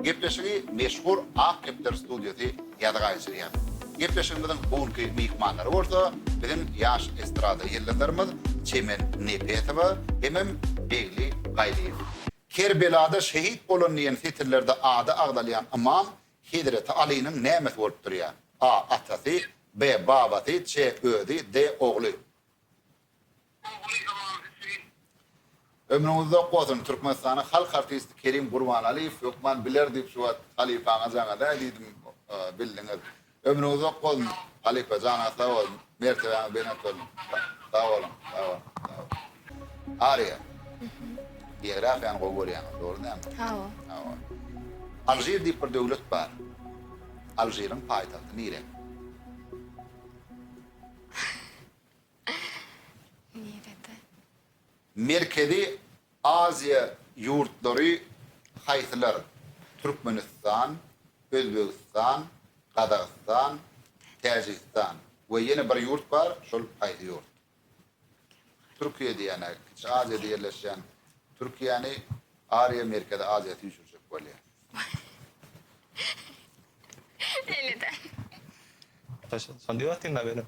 Gepleşigi meşhur Ak depder studiýasy ýazga geçirýär. Gepleşigimiziň bu günki myhmanlary bolsa biziň ýaş estrada ýyldyzlarymyz Çemen Nepesowa hemem Begli Gaýlyýew. Kerbelada şehit bolan diýen setirlerde ady agzalýan ymam Hezreti Alynyň nämesi bolup durýar? A. Atasy B. Babasy C. Özi D. Ogly. Ogly Imam Hüseýin. Ömrüň uzak bolsun Türkmenistanyň halk artisti Kerim Gurbanaliýew hökman biler diýip şu wagt halypaňa jaň edäý diýdim bildiňiz. Ömrüň uzak bolsun halypa janyňyz sag bolsun mertebeňiz belent bolsun sag boluň sag boluň sag boluň. Aria. Biografiýany gowy görýäňiz dogry dälmi? Hawa. Hawa. Alžir diýip bir döwlet bar. Alžiriň paýtagty nirä? Merkezi Aziýa ýurtlary haýsylar? Türkmenistan, Özbegistan, Gazagystan, Täjigistan we ýene bir ýurt bar, şol haýsy ýurt? Türkiýe diýýän-ä, Kiçi Aziýada ýerleşýän Türkiýäni Ariýa Merkezi Aziýa süýşürjek bolýar. Şonda ýok diýme, benim.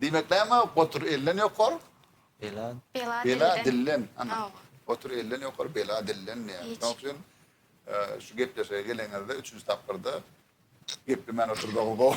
Diýmek näme? Otur elden ýokar. Bela. Bela dilden. Ana. Otur elden ýokar, bela dilden diýýär. Şonuň üçin şu gepleşige geleňizde üçünji tapgyrda geplemän otursaňyz gowy.